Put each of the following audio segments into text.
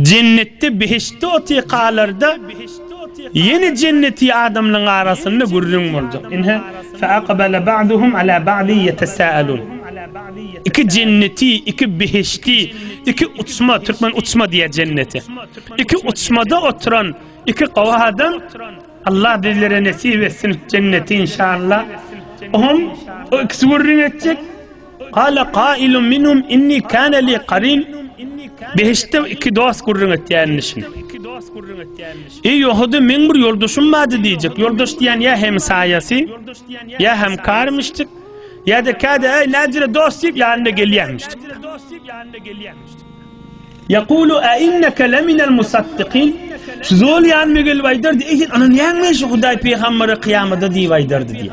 Jennetde behiştde otykalarda ýene jenneti adamlaryň arasynda gürrüň boljak. Ine, fa'akbala ba'duhum ala ba'di ýetesa'alun. Iki jenneti, iki behişti, iki uçma, türkmen uçma diýýär jennete. Iki uçmada oturan iki gowy adam Allah bizlere nesip etsin jenneti inşallah. Oňa ikisi gürrüň etjek. Qala qailun minhum inni kana li qarin. Behiştde iki dost gürrüň etýänini şin. Ey Ýahudy, meň bir ýoldaşym bardy diýjek. Ýoldaş diýen ýa hem saýasy, ýa hem karmyşdyk, ýa-da käde ey näjire dost diýip ýanyna gelýänmişdik. Yaqulu a innaka laminal musaddiqin. Şu zol ýanyma gelip aýdardy, ey sen ananýaňmy şu Hudaý pygamberi kyýamada diýip aýdardy diýip.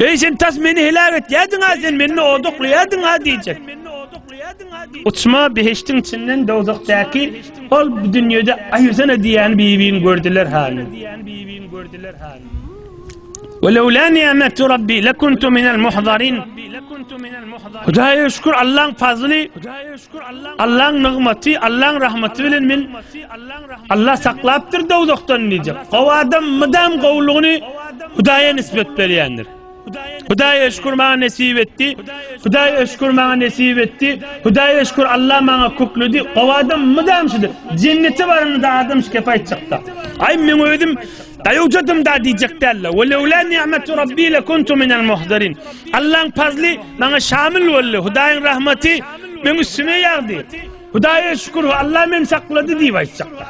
Eý sen tas meni heläk etýärdiň-a, sen meni odaklaýardyň-a diýjek. Uçma behiştiň içinden dowzakdaky ol bu dünýede aýyrsana diýýän bibini gördüler hany. Welewla ni'metu rabbi lekuntu minel muhzarin. Hudaýa şükür Allaň fazly. Allaň nygmaty, Allaň rahmaty bilen men Allah saklapdyr dowzahdan diýjek. Gowy adam mydam gowulygyny Hudaýa nisbet berýändir. Hudaýa şükür maňa nesip etdi. Hudaýa şükür maňa nesip etdi. Hudaýa şükür Allah maňa kökledi. Gowy adam mydam şudur. Jennete baranda adam şike paýtjakda. Aý men özüm Daýawjadym da diýjek däl-le. Ve lewla ni'metu rabbi le kuntu minel muhdarin. Allaň pazly maňa şamil boldy. Hudaýyň rahmaty meň üstüme ýagdy. Hudaýa şükür, Allah meni saklady diýip aýtjaklar.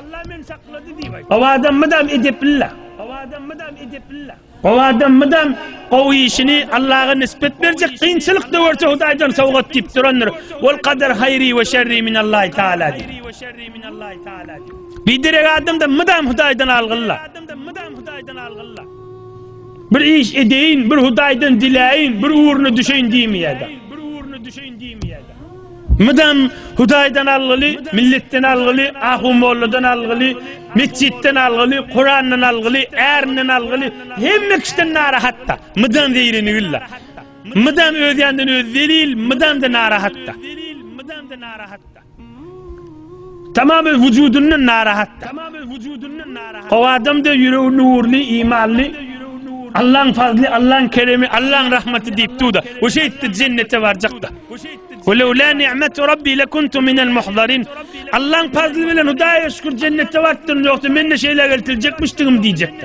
Gowy adam mydam edepli-le. Gowy adam mydam edepli-le. Gowy adam mydam gowy işini Allaha nisbet berjek, kynçylyk da görse Hudaýdan sowgat diýip durandyr. Ol kadar haýri ve şerri minallahi taala. Bir derek adamda mydam Hudaýdan algylla. Bir iş edeýin, bir Hudaýdan diläýin, bir ugruna düşeýin diýmeýär. Mydam Hudaýdan algyly, milletden algyly, ahu molladan algyly, metjitden algyly, Kurandan algyly, ärinden algyly, hemme kişiden narahatda. Mydam zeýreni güllä. Mydam öz ýandan öz zelil, mydam da narahatda. Mydam da narahatda. Tamamy wujudyndan narahatdyr. O adamda ýüregi nurly, imanly, Allaň fazly, Allaň keremi, Allaň rahmaty diýip duda. O şeýtdi jennete barjakda. Weleula ni'matu rabbi lakuntu minel muhzarin. Allaň fazly bilen Hudaýa şükür jennete bartdym, ýogsa men-de şeýle geltiljekmişdigim diýjekdi.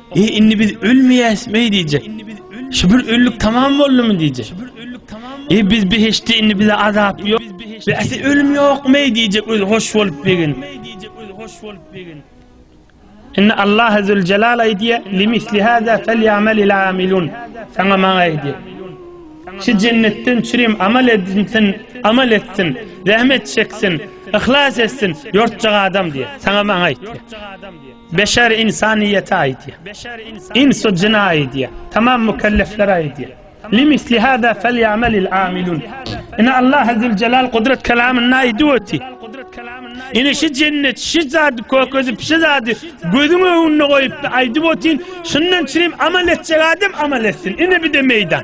E indi biz ölmeýäsmi diýjek. Şu bir öllik tamam boldumy diýjek. E biz behişde indi bize azap ýok. Biz ese ölüm ýokmy diýjek öz hoş bolup begin. Indi Allah azze ve celal aýdýa limisli hada felyamel il amilun. Sana maňa aýdýa. Şu jennetten çürim amal edinsin, amal etsin, zähmet çeksin, ihlas etsin, ýortjak adam diýe. Sana maňa aýdýa. Beşer insanyýete aýdýar. Ins-u jyna aýdýar. Tamam mükelleflere aýdýar. Limisli hada felýamelil amilun. Ine Allah zülcelal gudrat kelamynda aýdyp öti. Ine şi jennet şi zady kökezip şi zady gözüň öňünde goýup aýdyp ötin. Şundan çirim amal etjek adam amal etsin. Ine bide meýdan.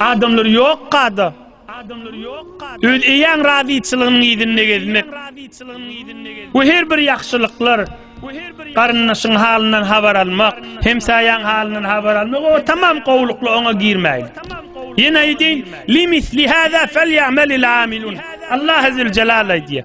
Adamlar yok kada. Öz eýäň razyçylygynyň yzynda gezmek. Bu her bir ýagşylyklar, garyndaşyň halyndan habar almak, hemsaýaň halyndan habar almak o tamam gowlukly oňa girmäýin. Ýene aýdýan, "Limis lihada felýamalil amilun." Allah azze we celal aýdýar.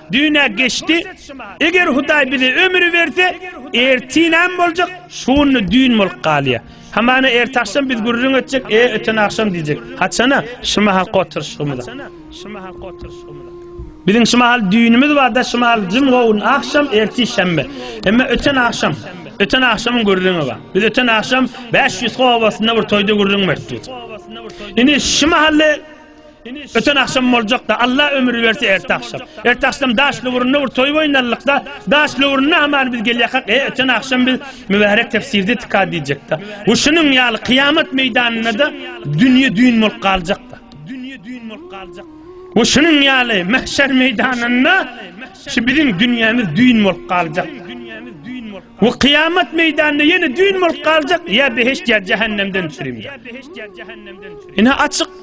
Düýn-ä geçdi. Eger Hudaý bize ömri berse, ertir näme boljak? Şu günde düýn bolup galýar. Hamana ertagşam biz gürrüň etjek, e, öten agşam diýjek. Haçana? Şu mahalky oturyşygymyza. Biziň şu mahal düýnümiz bar-da, şu mahal jym-gowun agşam, ertir şenbe. Emma öten agşam, öten agşamyň gürrüňi bar. Biz öten agşam Bäşýüzki obasynda bir toýda gürrüň bertdik. Indi şu mahaly Öten akşam boljakda Allah ömür berse erte akşam. Erte akşam daş lüwründe bir toý oýnalykda, daş lüwründe aman biz gelýäkak. E öten akşam biz mübärek tefsirde tika diýjekde. Bu şunuň ýaly kyýamat meýdanynda da dünýe düýn bolup galjakda. Dünýe düýn bolup galjak. Bu şunuň ýaly mahşer meýdanynda şu biziň dünýämiz düýn bolup galjak. Bu kıyamet meydanında yine düğün bol kalacak ya beheşt ya cehennemden süreyim. Yine açık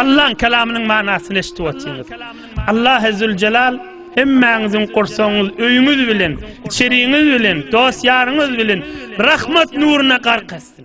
Allaň kelamynyň manasyny eşidip otyňyz. Allah Ezzülcelal hemmäňiziň gursagyňyz, öýüňiz bilen, içeriňiz bilen, dost-ýaryňyz bilen rahmat nuruna gark etsin.